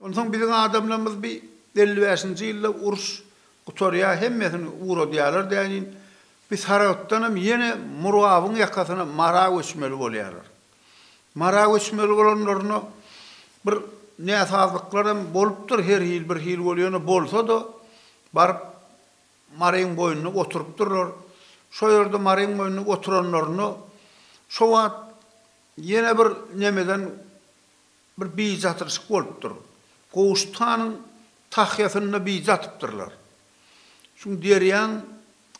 Onsoň biziň adamlarymyz bi elli bäşinji ýylda uruş gutarýa hemmesini ugradýalar däniin bi Saragtdanam ýene Murabyň ýakasyna Mara göçmeli bolýalar. Mara göçmeli bolanlarynda bir näsazlyklaram bolupdyr her hil bir hil bol ýöne bolsada baryp Maryň boýunda oturypdyrlar. Şo ýerde Maryň boýunda oturanlarynda şo wagt ýene bir nemeden Bir bicatyryşyk bolupdyr. Gowşut hanyň tahýasynda bije atypdyrlar. Şu derýaň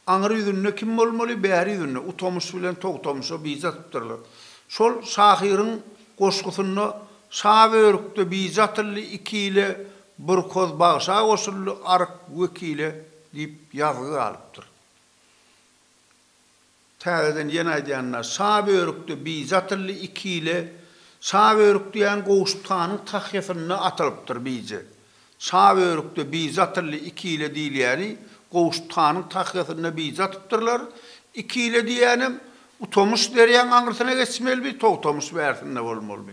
aňry ýüzünde kim bolmaly, bäri ýüzünde Utamyş bilen Togtamyşa bije atypdyrlar. Şol şahyryň goşgusynda Şa börükde bije atyldy, iki ile bir hoz bagşa goşuldy, aryk wekile diýip ýazgy galypdyr. Täzeden ýene aýdýan-da, şa börükde bije atyldy, iki ile şa börük diýýän Gowşut hanyň tahýasynda atylypdyr bije. Şa börükde bije atyldy, iki ile diýilýäni Gowşut hanyň tahýasynda bije atypdyrlar. Iki ile diýýänem Utamyş derýaň aňyrsyna geçmelidi, Togtamyş bärsinde bolmalydy.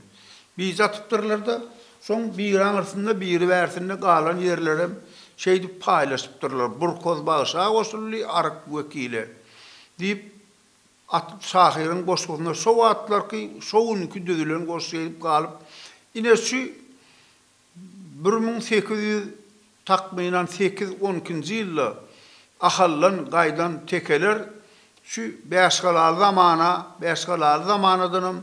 Bije atypdyrlar-da, soň biri aňyrsynda, biri bärsinde galan ýerlerem şeýdip paýlaşypdyrlar. Burkoz bagşa goşuldy, Aryk wekile. Diýip, at şahyryň goşgusynda şo wagtlarky, şo günki düzülen goşgy edip galyp, ine şu bir müň sekiz ýüz, takmynan, sekiz, on ikinji ýylda Ahaldan gaýdan tekeler şu Bäşgalaly zamana, Bäşgalaly zamanadanam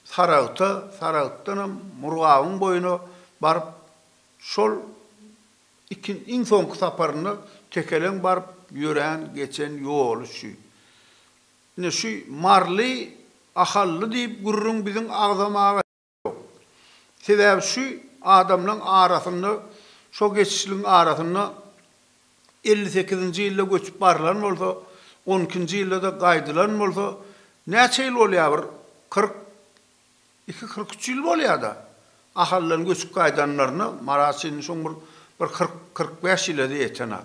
Saragta, Saragtdanam Murgabyň boýuna baryp, şol. Iki iň soňky saparynda tekeleň baryp ýörän geçen ýoly şu. Ine şu Marly Ahally diýip gürrüň biziň agzamaga ýok. Sebäbi şu adamlaň arasynda şo geçişligiň arasynda elli sekizinji ýylda göçüp barylan bolsa, on ikinji ýylda-da gaýdylan bolsa, näçe ýyl bolýar bir kyrk Iki kyrk üç ýyl bolýada Ahaldan göçüp gaýdanlaryna Marat şindi şoň bir bir kyrk kyrk bäş ýyla-da ýetenok.